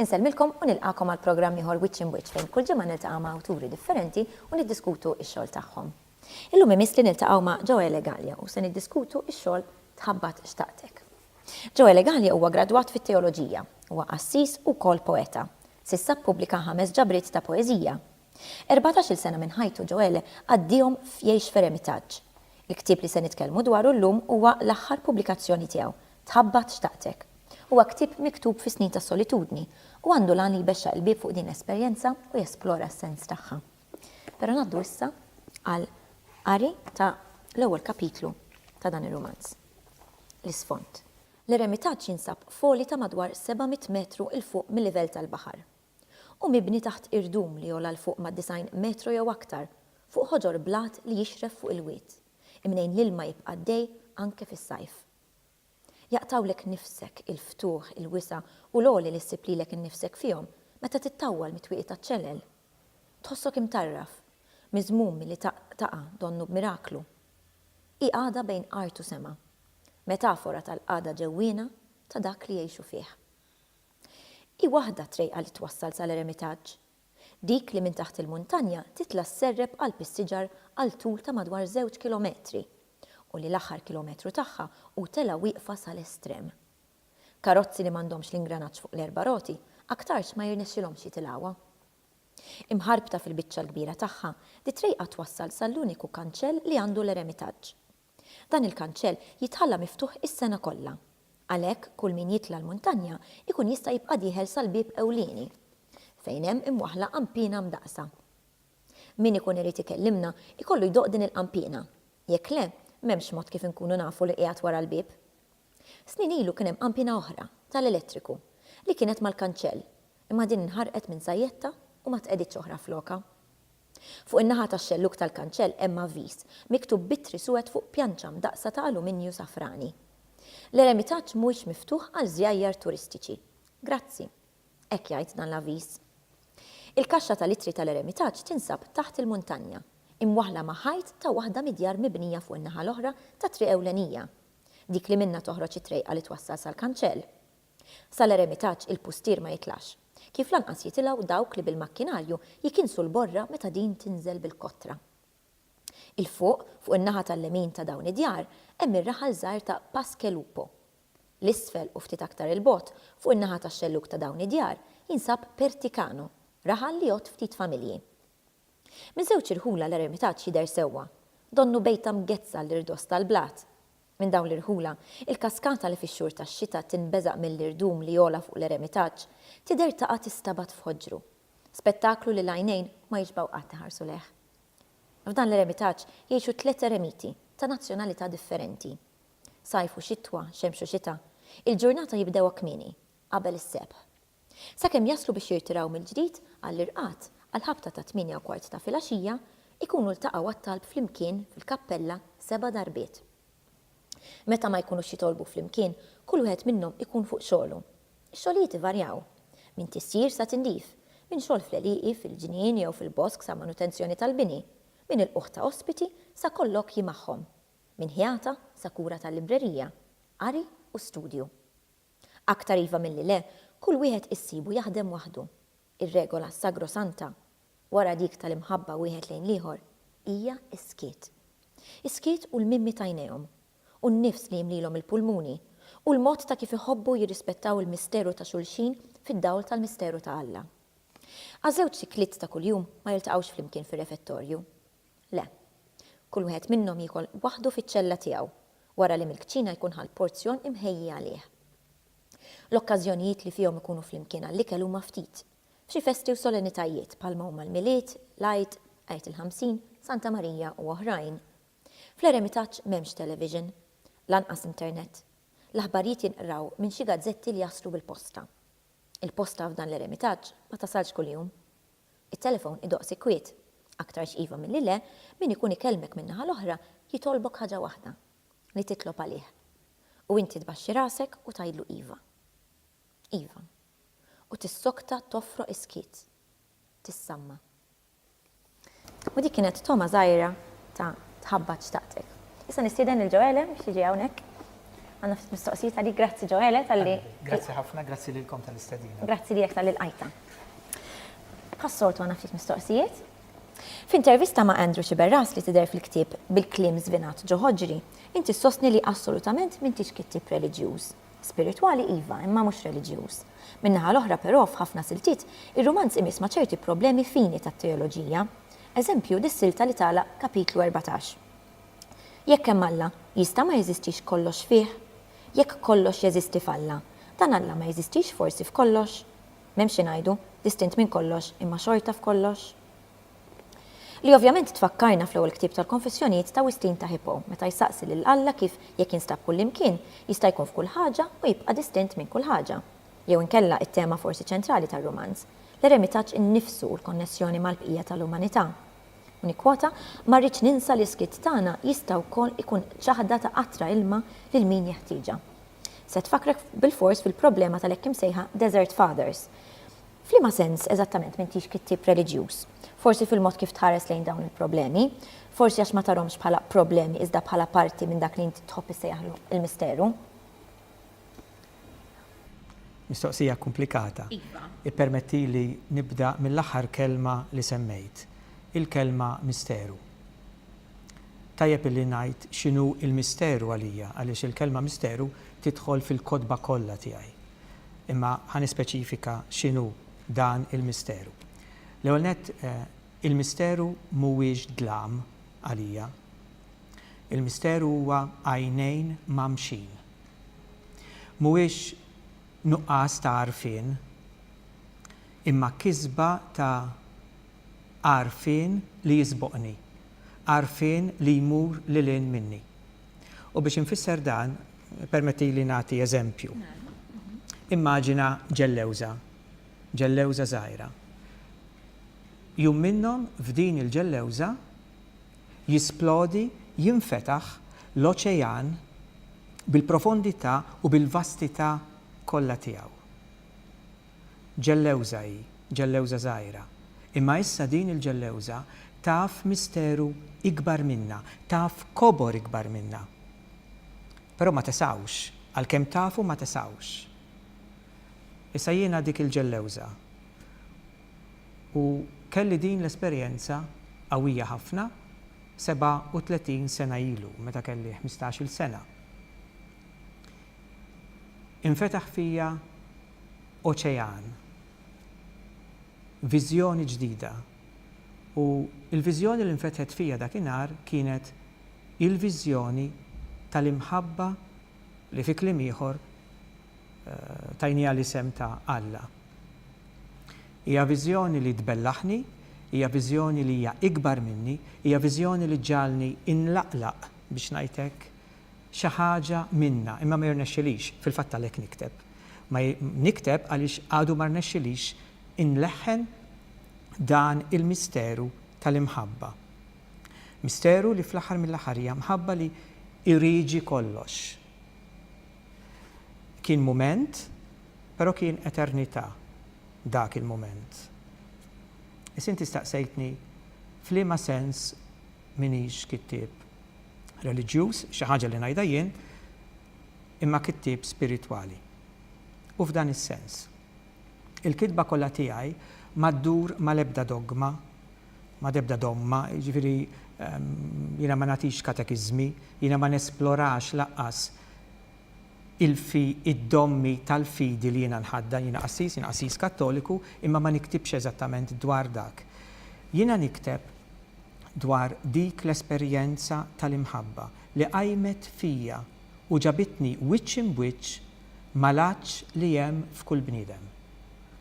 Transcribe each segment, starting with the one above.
Insellmilkom u nilqakom għal programm ieħor Wiċċ Imwiċċ fejn kull ġimgħa niltaqa' ma' awturi differenti u niddiskutu x-xogħol tagħhom. Illum imiss li niltaqgħu ma' Joele Gallia u se niddiskutu x-xogħol Tħabbat xtaqtek. Joe Elegali huwa gradwat fit-teoloġija. Huwa qassis u wkoll poeta. S'issa ppubblika ħames ġabriet ta' poeżija. Erbatax-il sena minn ħajtu Joele qaddihom f'jgħix f'eremitaġġ. Il-ktieb li se nitkellmu dwaru llum huwa l-aħħar pubblikazzjoni tiegħu, Tħabbat xtaqtek. Huwa ktieb miktub fi snin ta' solitudni u għandu l-għan li jbexxaq il-bieb fuq din l-esperjenza u jesplora s-sens tagħha. Però ngħaddu issa għal qari ta' l-ewwel kapitlu ta' dan ir-rumanz. l-isfond. L-eremitaġġ jinsab f'għoli ta' madwar 700 metru 'l fuq mil-livell tal-baħar. Hu mibni taħt irdum li jogħla 'l fuq mad-90 metru jew aktar, fuq ħoġor blat li jixref fuq il-wied, imnejn l-ilma jibqa' għaddej anke fis-sajf. Jaqtgħulek nifsek il-ftuħ, il-wisa' u l-għoli li ssib lilek innifsek fihom meta tittawwal mit-twieqi taċ-ċelel. Tħossok imtarraf, miżmum milli taqa' donnu b'miraklu. Hi qagħda bejn art u sema, metafora tal-qagħda ġewwiena ta' dak li jgħixu fih. Hi waħda t-trejqa li twassal sal-eremitaġġ, dik li minn taħt il-muntanja titla' sserrep qalb is-siġar għal tul ta' madwar żewġ kilometri u li l-aħħar kilometru tagħha hu telgħa wieqfa sal-estrem. Karozzi li m'għandhomx l-ingranaġġ fuq l-erba' roti aktarx ma jirnexxilhomx jitilgħuha. Imħarbta fil-biċċa l-kbira tagħha, dit-trejqa twassal sal-uniku kanċell li għandu l-eremitaġġ. Dan il-kanċell jitħalla miftuħ is-sena kollha. Għalhekk, kull min jitla' l-muntanja jkun jista' jibqa' dieħel sal-bieb ewlieni, fejn hemm imwaħħla qanpiena mdaqqsa. Min ikun irid ikellimna jkollu jdoqq din il-qanpiena. Jekk le, m'hemmx mod kif inkunu nafu li qiegħed wara l-bieb. Snin ilu kien hemm qanpiena oħra, tal-elettriku, li kienet mal-kanċell. Imma din inħarqet minn sajjettha u ma tqegħditx oħra flokha. Fuq in-naħa tax-xellug tal-kanċell hemm avviż, miktub b'ittri suwed fuq pjanċa mdaqqsa ta' aluminju safrani. L-eremitaġġ mhuwiex miftuħ għal żjajjar turistiċi. Grazzi. Hekk jgħid dan l-avviż. Il-kaxxa tal-ittri tal-eremitaġġ tinsab taħt il-muntanja, imwaħħla ma' ħajt ta' waħda mid-djar mibnija fuq in-naħa l-oħra tat-triq ewlenija, dik li minnha toħroġ it-trejqa li twassal sal-kanċell. Sa l-eremitaġġ il-pustier ma jitlax, kif lanqas jitilgħu dawk li bil-makkinarju jikinsu l-borra meta din tinżel bil-kotra. 'il fuq, fuq in-naħa tal-lemin ta' dawn id-djar, hemm ir-raħal żgħir ta' Paskelupo. 'l isfel u ftit aktar 'il bogħod, fuq in-naħa tax-xellug ta' dawn id-djar, jinsab Perticano, raħal li jgħodd ftit familji. Miż-żewġ irħula l-eremitaġġ jidher sewwa, donnu bejta mgezzha l-irdos tal-blat. Minn dawn l-irħula, il-kaskata li fix-xhur tax-xita tinbeżaq mill-irdum li jogħla fuq l-eremitaġġ, tidher taqa' tistabat f'ħoġru. Spettaklu li l-għajnejn ma jixbgħu qatt iħarsu lejh. F'dan l-eremitaġġ jgħixu tliet eremiti, ta' nazzjonalità differenti. Sajf u xitwa, xemx u xita, il-ġurnata jibdewha kmieni, qabel is-sebħ. Sakemm jaslu biex jirtiraw mill-ġdid għall-irqad għall-ħabta tat-tmienja u kwart ta' filgħaxija, ikunu ltaqgħu għat-talb flimkien fil-kappella seba' darbiet. Meta ma jkunux jitolbu flimkien, kull wieħed minnhom ikun fuq xogħlu. Ix-xogħlijiet ivarjaw, minn tisjir sa tindif, minn xogħol fl-għelieqi, fil-ġnien jew fil-bosk sa manutenzjoni tal-bini, minn ilqugħ ta' ospiti sa kollokji magħhom, minn ħjata sa kura tal-librerija, qari u studju. Aktar iva milli le, kull wieħed issibu jaħdem waħdu. Ir-regola sagrosanta, wara dik tal-imħabba wieħed lejn l-ieħor, hija s-skiet. Is-skiet u l-mimmi t'għajnejhom, u n-nifs li jimlielhom il-pulmuni, u l-mod ta' kif iħobbu jirrispettaw il-misteru ta' xulxin fid-dawl tal-misteru ta' Alla. Għaż-żewġ sikliet ta' kuljum ma jiltaqgħux flimkien fir-refettorju. Le. Kull wieħed minnhom jiekol waħdu fiċ-ċella tiegħu, wara li mill-kċina jkun ħa l-porzjon imħejji għalih. L-okkażjonijiet li fihom ikunu flimkien għall-ikel huma ftit. F'xi festi u solenitajiet, bħalma huma l-Milied, l-Għid, Għid il-Ħamsin, Santa Marija u oħrajn. Fl-eremitaġġ m'hemmx television. Lanqas internet. L-aħbarijiet jinqraw minn xi gazzetti li jaslu bil-posta. Il-posta f'dan l-eremitaġġ ma tasalx kuljum. It-telefon idoqq sikkwiet. Aktarx iva milli le, min ikun ikellmek min-naħa l-oħra jitolbok ħaġa waħda, li titlob għalih. U inti tbaxxi rasek u tgħidlu iva. Iva. U tissokta toffroq is-skiet. Tissamma. U dik kienet togħma żgħira ta' tħabba xtaqtek. Issa nistieden lil Ġoele biex jiġi hawnhekk. Għandna ftit mistoqsijiet għalik. Grazzi Ġoele talli. Grazzi ħafna, grazzi lilkom tal-istedina. Grazzi lilek talli lqajtna. Bħas-soltu għandna ftit mistoqsijiet. F'intervista ma' Andrew Sciberras li tidher fil-ktieb Bil-kliem żvinat ġo ħoġri, inti ssostni li assolutament m'intix kittieb reliġjuż. Spiritwali iva, imma mhux reliġjuż. Min-naħa l-oħra però f'ħafna siltiet, ir-rumanz imiss ma' ċerti problemi fini tat-teoloġija. Eżempju, dis-silta li tagħlaq Kapitlu erbatax. Jekk hemm Alla, jista' ma jeżistix kollox fih? Jekk kollox jeżisti f'Alla, dan Alla ma jeżistix forsi f'kollox? M'hemmx xi ngħidu, distint minn kollox imma xorta f'kollox? Li ovvjament tfakkarna fl-ewwel ktieb tal-Konfessjonijiet ta' Wistin ta' Hippo, meta jsaqsi lil Alla kif, jekk jinstab kullimkien, jista' jkun f'kull ħaġa u jibqa' distint minn kull ħaġa. Jew inkella it-tema forsi ċentrali tar-rumanz, l-eremitaġġ innifsu u l-konnessjoni mal-bqija tal-umanità. U nikkwota, Ma rridx ninsa li s-skiet tagħna jista' wkoll ikun ċaħda ta' qatra ilma lil min jeħtieġha. Se tfakkrek bilfors fil-problema tal-hekk imsejħa desert fathers. F'liema sens eżattament m'intix kittieb reliġjuż? Forsi fil-mod kif tħares lejn dawn il-problemi. Forsi għax ma tarhomx bħala problemi iżda bħala parti minn dak li int tħobb issejjaħlu l-misteru. Mistoqsija komplikata. Iva. Ippermettili nibda mill-aħħar kelma li semmejt. Il-kelma misteru. Tajjeb illi ngħid x'inhu l-misteru għalija għaliex il-kelma misteru tidħol fil-kotba kollha tiegħi. Imma ħa nispeċifika x'inhu dan il-misteru. L-ewwel nett, il-misteru mhuwiex dlam għalija. Il-misteru huwa għajnejn mgħammxin. Mhuwiex nuqqas ta' għarfien, imma kisba ta' għarfien li jisboqni, għarfien li jmur lil hinn minni. U biex infisser dan, permettili nagħti eżempju. Immaġina ġellewża, ġellewża żgħira. Jum minnhom f'din il-ġellewża jisplodi, jinfetaħ l-oċejan bil-profondità u bil-vastità kollha tiegħu. Ġellewża hi, ġellewża żgħira. Imma issa din il-ġellewża taf misteru ikbar minna, taf kobor ikbar minna. Però ma tesgħux, għalkemm tafu ma tesgħux. Issa jiena dik il-ġellewża. U kelli din l-esperjenza qawwija ħafna 37 sena ilu, meta kelli ħmistax-il sena. Infetaħ fija oċean, viżjoni ġdida. U l-viżjoni li nfetħet fija dakinhar kienet il-viżjoni tal-imħabba li fi kliem ieħor tajniha l-isem ta' Alla. Hija viżjoni li tbellaħni, hija viżjoni li hija ikbar minni, hija viżjoni li ġġagħalni inlaqlaq, biex ngħid hekk, xi ħaġa minnha, imma ma jirnexxilix, fil-fatt għalhekk nikteb. Ma nikteb għaliex għadu ma rnexxilix inleħħen dan il-misteru tal-imħabba. Misteru li fl-aħħar mill-aħħar hija mħabba li irieġi kollox. Kien mument, però kien eternità dak il-mument. Issa inti staqsejtni f'liema sens m'iniex kittieb. reliġjuż, xi ħaġa li ngħidha jien, imma kittieb spiritwali. U f'dan is-sens. Il-kitba kollha tiegħi ma ddur mal-ebda dogma, mal-ebda domma, jiġifieri jiena ma nagħtix katekiżmi, jiena ma nesplorax lanqas il-fi, id-dommi tal-fidi li jiena nħaddan, jiena qassis, jiena qassis Kattoliku, imma ma niktibx eżattament dwar dak. Jiena nikteb dwar dik l-esperjenza tal-imħabba li qajmet fija u ġabitni wiċċ imb'wiċċ mal-għatx li hemm f'kull bniedem.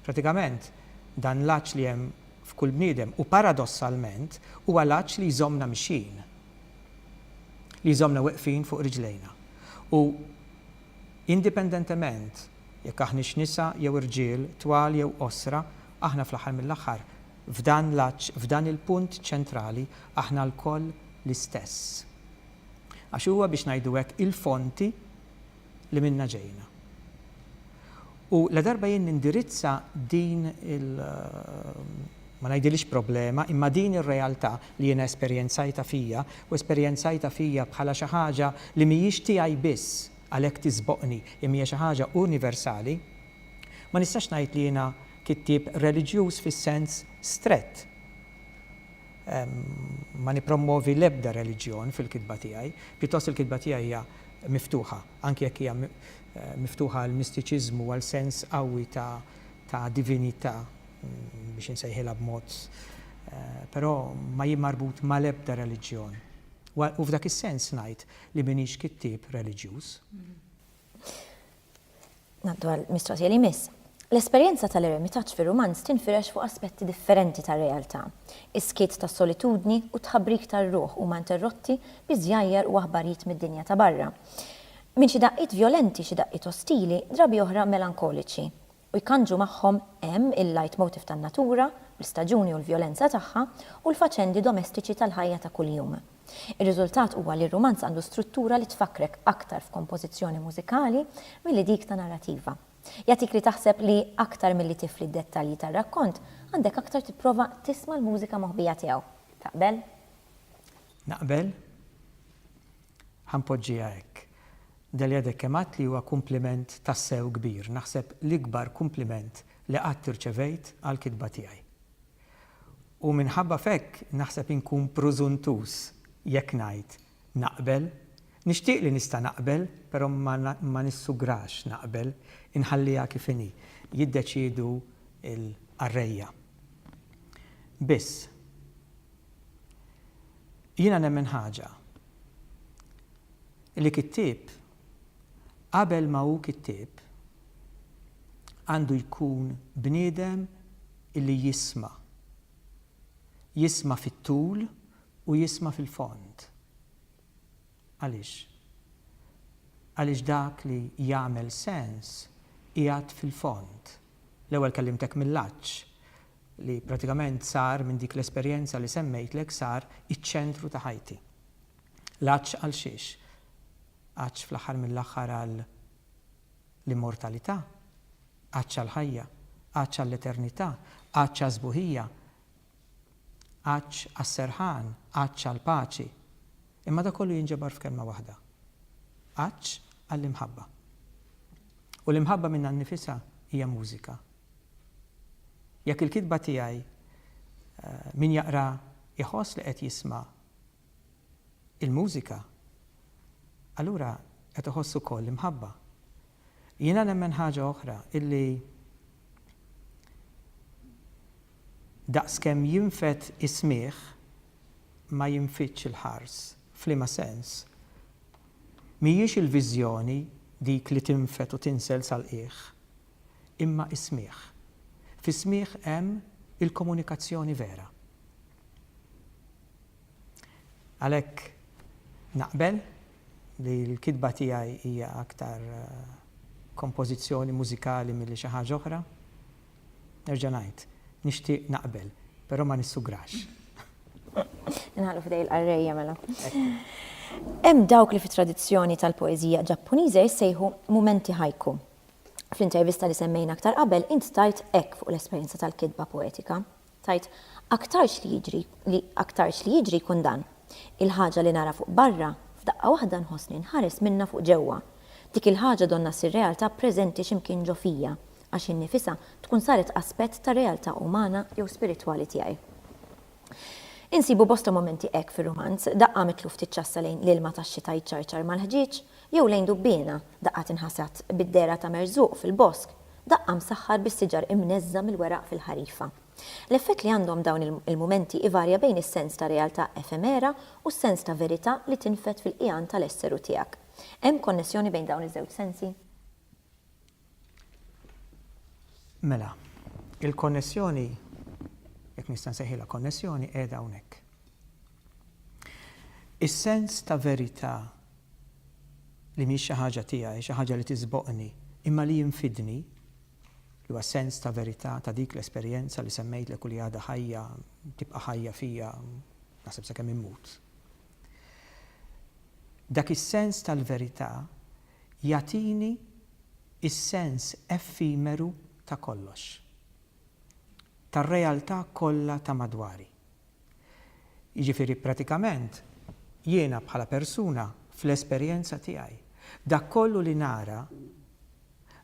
Pratikament, dan l-għatx li hemm f'kull bniedem u paradossalment huwa l-għatx li jżommna mixjin, li jżommna weqfin fuq riġlejna. U indipendentement jekk aħniex nisa jew irġiel, twal jew qosra, aħna fl-aħħar mill-aħħar F'dan l-għatx, f'dan il-punt ċentrali, aħna lkoll l-istess. Għax huwa, biex ngħidu hekk, il-fonti li minnha ġejna. U ladarba jien nindirizza din il, ma ngħidilhiex problema, imma din ir-realtà li jiena esperjenzajtha fija, u esperjenzajtha fija bħala xi ħaġa li mhijiex tiegħi biss, għalhekk tisboqni, imma hija xi ħaġa universali, Ma nistax ngħid li jiena kittieb reliġjuż fis-sens strett. Ma nippromwovi l-ebda reliġjon fil-kitba tiegħi. Pjuttost il-kitba tiegħi hija miftuħa, anki jekk hija miftuħa għal mistiċiżmu, għal sens qawwi ta' divinità, biex insejħilha b'mod, però ma hi marbut mal-ebda reliġjon. U f'dak is-sens ngħid li m'iniex kittieb reliġjuż. Ngħaddu għall-mistoqsija li jmiss. L-esperjenza tal-eremitaġġ fir-rumanz tinfirex fuq aspetti differenti tar-realtà. Is-skiet tas-solitudni u t-tħabbrik tar-ruħ huma interrotti bi żjajjar u aħbarijiet mid-dinja ta' barra. Minn xi daqqiet vjolenti, xi daqqiet ostili, drabi oħra melankoliċi. u jkandġu magħhom hemm il-leitmotiv tan-natura, l-istaġuni u l-vjolenza tagħha, u l-faċendi domestiċi tal-ħajja ta' kuljum. Ir-riżultat huwa li r-rumanz għandu struttura li tfakkrek aktar f'kompożizzjoni mużikali milli dik ta' narrativa. Jagħtik li taħseb li aktar milli tifli d-dettalji tar-rakkont, għandek aktar tipprova tisma' l-mużika moħbija tiegħu. Taqbel? Naqbel. Ħa npoġġiha hekk. Delia Deck kemm għidt li huwa kumpliment tassew kbir, naħseb l-ikbar kumpliment li qatt irċevejt għall-kitba tiegħi. U minħabba f'hekk naħseb inkun prużuntuż jekk ngħid naqbel. Nixtieq li nista' naqbel, però ma nissugrax naqbel, inħalliha kif inhi. Jiddeċiedu l-qarrejja biss. Jiena nemmen ħaġa, li kittieb qabel ma hu kittieb għandu jkun bniedem li jisma', jisma' fit-tul u jisma' fil-fond. Għaliex? Għaliex dak li jagħmel sens qiegħed fil-fond. L-ewwel kellimtek mill-għatx, li prattikament sar minn dik l-esperjenza li semmejtlek sar iċ-ċentru ta' ħajti. L-għatx għal xiex? Għatx fl-aħħar mill-aħħar għal l-immortalità, għatx għall-ħajja, għatx għall-eternità, għatx għas-sbuħija, Għatx għas-serħan, għatx għall-paċi. Imma dak kollu jinġabar f'kelma waħda, għatx għall-imħabba. U l-imħabba minnha nnifisha hija mużika. Jekk il-kitba tiegħi min jaqraha jħoss li qed jisma' il-mużika, allura qed iħoss ukoll l-imħabba. Jiena nemmen ħaġa oħra, illi daqskemm jinfed is-smigħ, ma jinfidx il-ħars. F'liema sens? Mhijiex il-viżjoni dik li tinfed u tinsel sal-qiegħ, imma s-smigħ. Fis-smigħ hemm il-komunikazzjoni vera. Għalhekk naqbel li l-kitba tiegħi hija aktar kompożizzjoni mużikali milli xi ħaġa oħra. Nerġa' ngħid, nixtieq naqbel, però ma nissugrax. Inħallu f'idej il-qarrejja mela. Hemm dawk li fit-tradizzjoni tal-poeżija Ġappuniża jissejħu mumenti haiku. Fl-intervista li semmejna aktar qabel int tajt hekk fuq l-esperjenza tal-kitba poetika, Tgħid, Aktarx li jiġri, li aktarx li jiġri jkun dan. Il-ħaġa li nara fuq barra, f'daqqa waħda nħossni nħares minnha fuq ġewwa. Dik il-ħaġa donnha ssir realtà preżenti xi mkien ġo fija, għax hi nnifisha tkun saret aspett tar-realtà umana jew spiritwali tiegħi. Insibu bosta mumenti hekk fir-rumanz, daqqa mitlu ftit ċassa lejn l-ilma tax-xita jċarċar mal-ħġieġ, Jew lejn dubbiena, daqqa tinħasad bid-dehra ta' merżuq fil-bosk, daqqa msaħħar bis-siġar imneżża' mill-weraq fil-ħarifa. L-effett li għandhom dawn il-mumenti ivarja bejn is-sens ta' realtà efemera u s-sens ta' verità li tinfed fil-qiegħan tal-esseru tiegħek. Hemm konnessjoni bejn dawn iż-żewġ sensi? Mela, il-konnessjoni, jekk nista' nsejħilha konnessjoni, qiegħda hawnhekk. Is-sens ta' verità li mhix xi ħaġa tiegħi, xi ħaġa li tiżboqni, imma li jinfidni, li huwa sens ta' verità ta' dik l-esperjenza li semmejtlek u li għadha ħajja, tibqa' ħajja fija, naħseb sakemm immut. Dak is-sens tal-verità jagħtini s-sens effimeru ta' kollox, tar-realtà kollha ta' madwari. Jiġifieri pratikament jiena bħala persuna fl-esperjenza tiegħi, dak kollu li nara,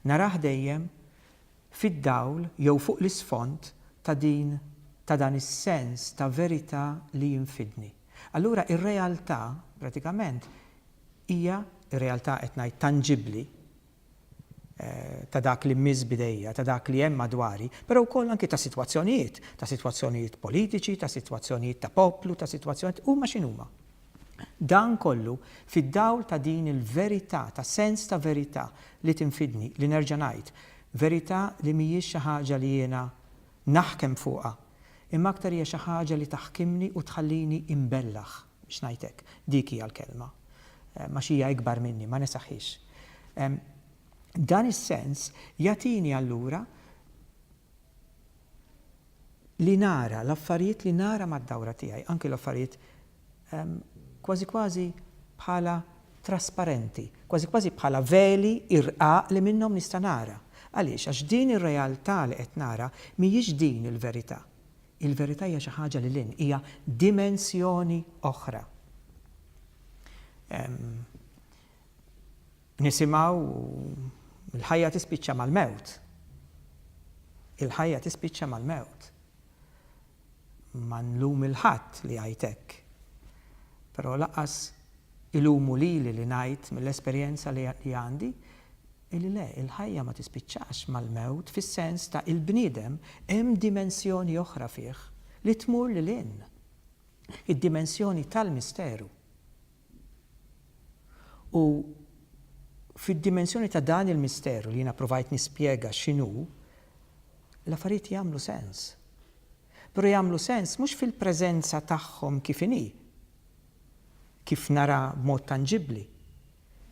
narah dejjem fid-dawl jew fuq l-isfond ta' din ta' dan is-sens ta' verità li jien fidni. Allura r-realtà pratikament Hija r-realtà, qed ngħid, tanġibbli ta' dak li mmiss b'idejja, ta' dak li hemm madwari, però wkoll anki ta' sitwazzjonijiet, ta' sitwazzjonijiet politiċi, ta' sitwazzjonijiet ta' poplu, ta' sitwazzjonijiet, huma x'inhuma. Dan kollu fid-dawl ta' din il-verità, ta' sens ta' verità li tinfidni, li nerġa' ngħid, verità li mhijiex xi ħaġa li jiena naħkem fuqha, imma aktar hija xi ħaġa li taħkimni u tħallini imbellah. X'ngħidlek, dik hija l-kelma. Għax hija ikbar minni, ma nesaħħiex. Dan is-sens jagħtini allura li nara l-affarijiet li nara mad-dawra tiegħi, anki l-affarijiet kważi kważi bħala trasparenti, kważi kważi bħala veli irqaq li minnhom nista' nara. Għaliex? Għax din ir-realtà li qed nara mhijiex din il-verità. Il-verità hija xi ħaġa lil hinn, hija dimensjoni oħra. Nisimgħu l-ħajja tispiċċa mal-mewt. Il-ħajja tispiċċa mal-mewt. Ma nlum il-ħadd li għajtek. Però laqas ilumu lili li ngħid mill-esperjenza li għandi Illi le, il-ħajja ma tispiċċax mal-mewt fis-sens ta' il-bniedem hemm dimensjoni oħra fih li tmur lil hinn, id-dimensjoni tal-misteru. U fid-dimensjoni ta' dan il-misteru li jiena provajt nispjega x'inhu, l-affarijiet jagħmlu sens. Però jagħmlu sens mhux fil-preżenza tagħhom kif inhi, kif naraha b'mod tanġibbli,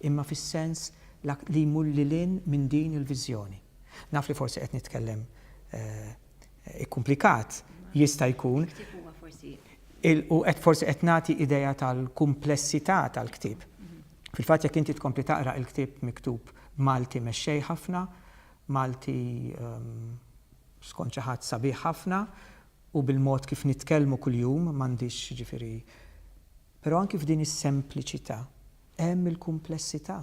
imma fis-sens l-ak li jmur lil hinn minn din il-viżjoni. Naf li forsi qed nitkellem ikkumplikat, jista' jkun, u qed forsi qed nagħti idea tal-kumplessità tal-ktieb. Fil-fatt jekk inti tkompli taqra il-ktieb miktub b'Malti mexxej ħafna, Malti skont xi ħadd sabiħ ħafna u bil-mod kif nitkellmu kuljum, m'għandix jiġifieri Però anki f'din is-sempliċità hemm il-kumplessità.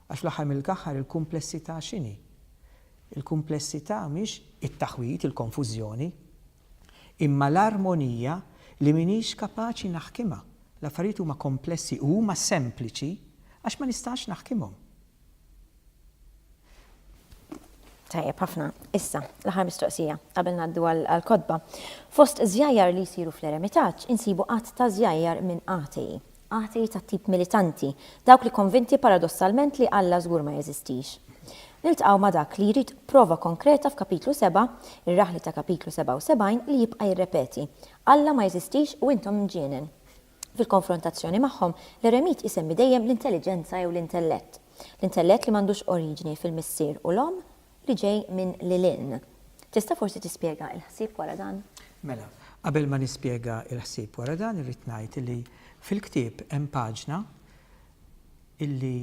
Għax fl-aħħar mill-aħħar il-kumplessità x'inhi? Il-kumplessità mhix it-taħwid, il-konfużjoni, imma l-armonija li m'iniex kapaċi naħkimha. L-affarijiet huma komplessi u huma sempliċi għax ma nistax naħkimhom. Tajjeb ħafna. Issa, l-aħħar mistoqsija qabel ngħaddu għall-kotba. Fost żjajjar li jsiru fl-eremitaġġ insibu għadd ta' żjajjar minn atei. Atei tat-tip militanti, dawk li konvinti paradossalment li Alla żgur ma jeżistix. Niltqgħu ma' dak li jrid prova konkreta f'Kapitlu Seba', ir-raħli ta' Kapitlu 77 li jibqa' jirrepeti, Alla ma jeżistix u intom mġienen. Fil-konfrontazzjoni magħhom, l-eremit isemmi dejjem l-intelliġenza jew l-intellett. L-intellett li m'għandux oriġini fil-missier u l-omm, li ġej minn lil hinn. Tista' forsi tispjega l-ħsieb wara dan? Mela, qabel ma nispjega l-ħsieb wara dan irrid ngħid li fil-ktieb hemm paġna li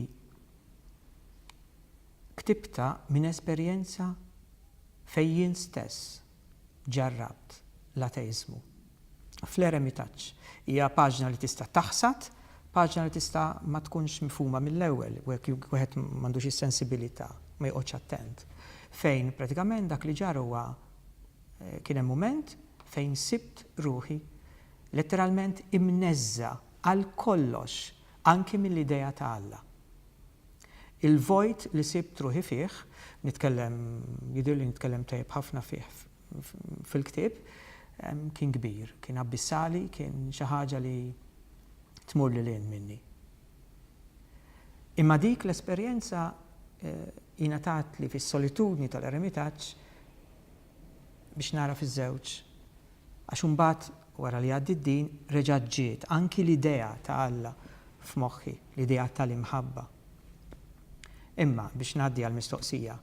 ktibtha minn esperjenza fejn jien stess ġarrabt l-ateiżmu. fl-eremitaġġ. Hija paġna li tista' taħsad, paġna li tista' ma tkunx mifhuma mill-ewwel u hekk wieħed m'għandux is-sensibilità, ma joqgħodx attent. Fejn pratikament dak li ġara huwa kien hemm mument fejn sibt ruħi letteralment imneżża' għal kollox, anki mill-idea ta' Alla. Il-vojt li sibt ruħi fih, nitkellem, jidhirli nitkellem tajjeb ħafna fih fil-ktieb kien kbir, kien abbissali, kien xi ħaġa li tmur lil hinn minni. Imma dik l-esperjenza ingħatatli fis-solitudni tal-eremitaġġ biex nara fiż-żewġ għax imbagħad Wara li għaddiet din, reġgħet ġiet anki l-idea ta' Alla f'moħħi, l-idea tal-imħabba. Imma, biex ngħaddi għall-mistoqsija,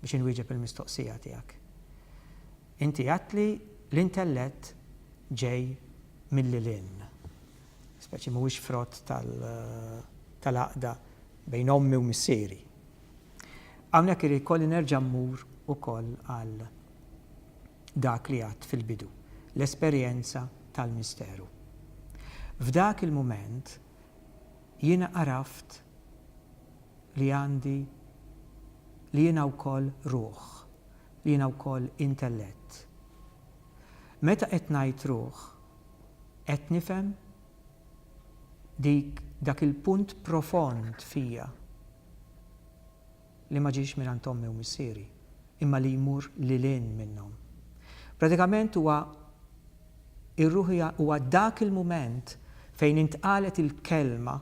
biex inwieġeb il-mistoqsija tiegħek. Inti għedt li l-intellett ġej mill-lilhinn, speċi mhuwiex frott tal-għaqda bejn ommi u missieri. Hawnhekk ikolli nerġa' mmur ukoll għal dak li għedt fil-bidu, l-esperjenza tal-misteru. F'dak il-mument jiena għaraft li għandi li jiena wkoll ruħ, li jiena wkoll intellett. Meta qed ngħid ruħ, qed nifhem dik dak il-punt profond fija. li ma ġiex mingħand ommi u missieri, imma li jmur lil hinn minnhom. Pratikament huwa r-ruħija huwa dak il-mument fejn intqalet il-kelma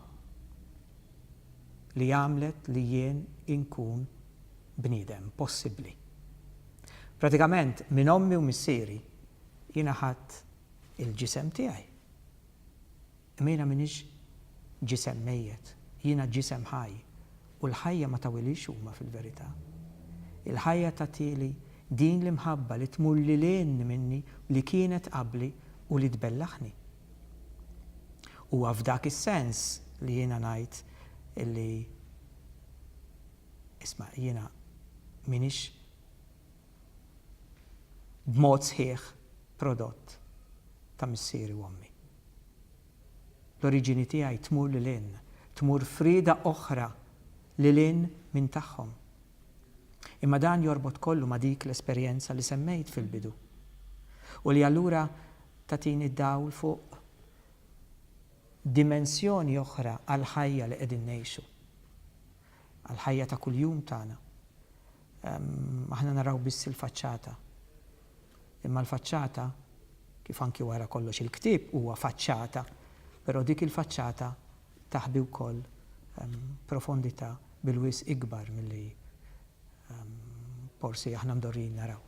li għamlet li jien inkun bniedem possibbli. Pratikament minn ommi u missieri jiena ħadt il-ġisem tiegħi. Imejna m'iniex ġisem mejjet, jiena ġisem ħaj, u l-ħajja ma tawilix huma fil-verità. Il-ħajja tagħtili din l-imħabba li tmur lil hinn minni li kienet qabli u li tbellaħni. Huwa f'dak is-sens li jiena ngħid li isma' jiena m'iniex b'mod sħiħ prodott ta' missieri u ommi. L-oriġini tiegħi tmur lil hinn, tmur f'rieda oħra lil hinn minn tagħhom. Imma dan jorbot kollu ma' dik l-esperjenza li semmejt fil-bidu u li allura tagħtini dawl fuq dimensjoni oħra għall-ħajja li qegħdin ngħixu. Għall-ħajja ta' kuljum tagħna, aħna naraw biss il-faċċata. Imma l-faċċata, kif anki wara kollox il-ktieb huwa faċċata, però dik il-faċċata taħbi wkoll profondità bil-wisq ikbar milli Forsi aħna mdorrijin naraw.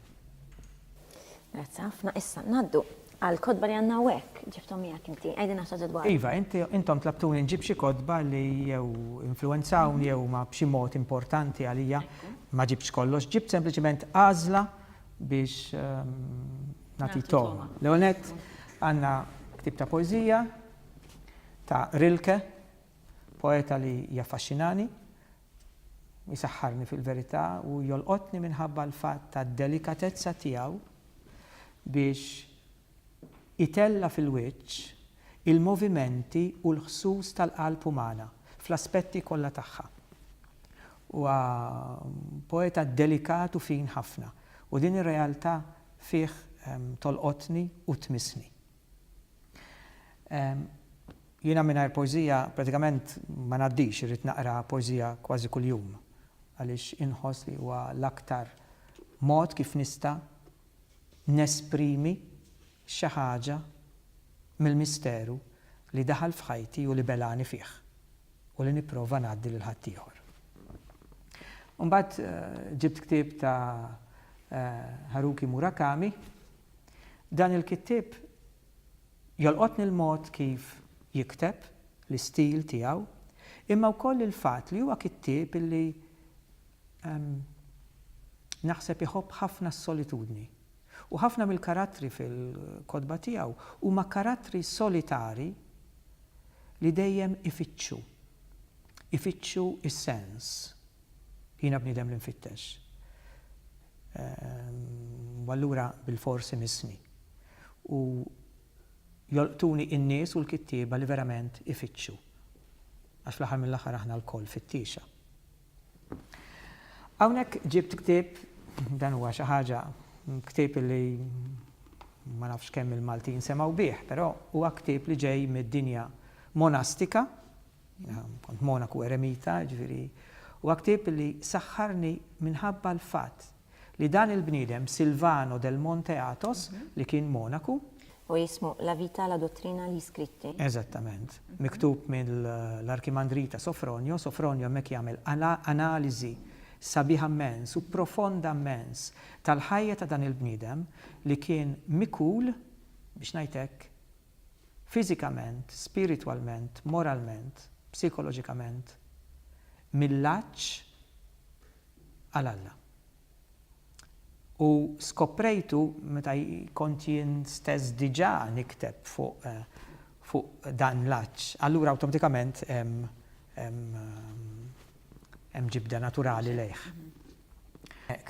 Grazzi ħafna. Issa ngħaddu għal kotba li għandna hawnhekk ġibthom miegħek inti. Għidilna naħseb dwar. Iva, intom tlabtuni nġib xi kotba li jew influwenzawni jew ma b'xi mod importanti għalija. Ma ġibtx kollox, ġibt sempliċiment għażla biex ehm, nagħti togħma. L-ewwel nett għandna ktib ta' poeżija ta' Rilke, poeta li jaffaxxinani, Isaħħarni fil-verità u jolqotni minħabba l-fatt tad-delikatezza tiegħu biex itella' fil-wiċċ il-movimenti u l-ħsus tal-qalb umana fl-aspetti kollha tagħha. Huwa poeta delikat u fin ħafna u din ir-realtà fih tolqotni u tmissni. Jiena mingħajr poeżija pratikament ma ngħaddix, irrid naqra poeżija kważi kuljum għaliex inħoss li huwa l-aktar mod kif nista' nesprimi xi ħaġa mill-misteru li daħal f'ħajti u li belgħani fih u li nipprova ngħaddi lil ħaddieħor. Imbagħad ġibt ktieb ta' Haruki Murakami, Dan il-kittieb jolqotni l-mod kif jikteb, l-istil tiegħu, imma wkoll il-fatt li huwa kittieb li naħseb iħobb ħafna s-solitudni. U ħafna mill-karattri fil-kotba tiegħu huma karattri solitari li dejjem ifittxu, ifittxu s-sens. Jiena bniedem li nfittex. U allura bilfors imissni. U jolqtuni n-nies u l-kittieba li verament ifittxu. Għax fl-aħħar mill-aħħar aħna lkoll fittiexa. Hawnhekk ġibt ktieb, dan huwa xi ħaġa, ktieb li ma nafx kemm il-Maltin semgħu bih, però huwa ktieb li ġej mid-dinja monastika, Jiena kont monaku eremita, jiġifieri huwa ktieb li saħħarni minħabba l-fatt li dan il-bniedem Silvano del Monte Athos li kien monaku. Huwa jismu La vita, la dottrina, gli scritti. Eżattament. Miktub mill-Arkimandrita Sofronio. Sofronio hemmhekk jagħmel analiżi sabiħa mmens u profonda mmens tal-ħajja ta' dan il-bniedem li kien mikul, biex ngħid hekk, fiżikament, spiritwalment, moralment, psikoloġikament, mill-għatx għal Alla. U skoprejtu, meta kont jien stess diġà nikteb fuq dan l-għatx, allura awtomatikament hemm ġibda naturali lejh.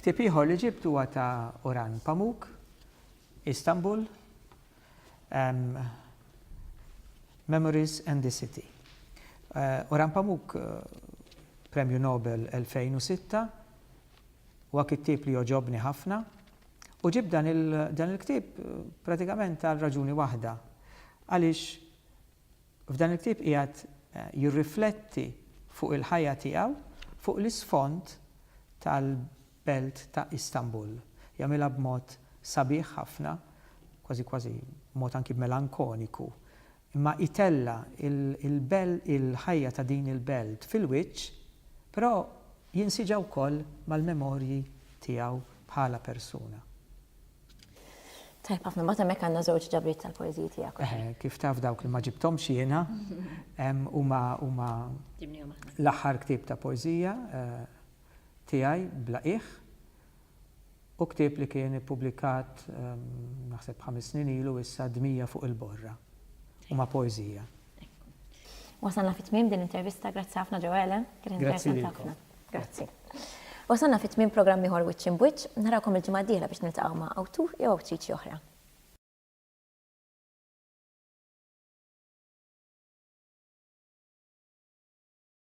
Ktieb ieħor li ġibt huwa ta' Orhan Pamuk, Istanbul, Memories and the City. Orhan Pamuk, Premju Nobel 2006, huwa kittieb li jogħġobni ħafna u ġibt dan il-ktieb pratikament għal raġuni waħda, għaliex F'dan il-ktieb qiegħed jirrifletti fuq il-ħajja tiegħu fuq l-isfond tal-belt ta' Istanbul. Jagħmilha b'mod sabiħ ħafna, kważi kważi b'mod anki melankoniku, imma itella' il-ħajja ta' din il-belt fil-wiċċ, però jinsiġa wkoll mal-memorji tiegħu bħala persuna. Tajb ħafna, mbagħad hemmhekk għandna żewġ ġabriet tal-poeżiji tiegħek. Eh, kif taf dawk li ma ġibthomx jiena, huma huma l-aħħar ktieb ta' poeżija eh, tiegħi bla qiegħ u ktieb li kien ippubblikat naħseb ħames snin ilu issa dmija fuq il-borra. Huma poeżija. Wasalna fit-tmiem din intervista, grazzi ħafna ġewele, kien interessanti ħafna. Grazzi. Wasalna fi tmiem programm ieħor Wiċċ Imbwiċċ, narakom il-ġimgħa d-dieħla biex niltaqgħu ma' awtur jew awtriċi oħra.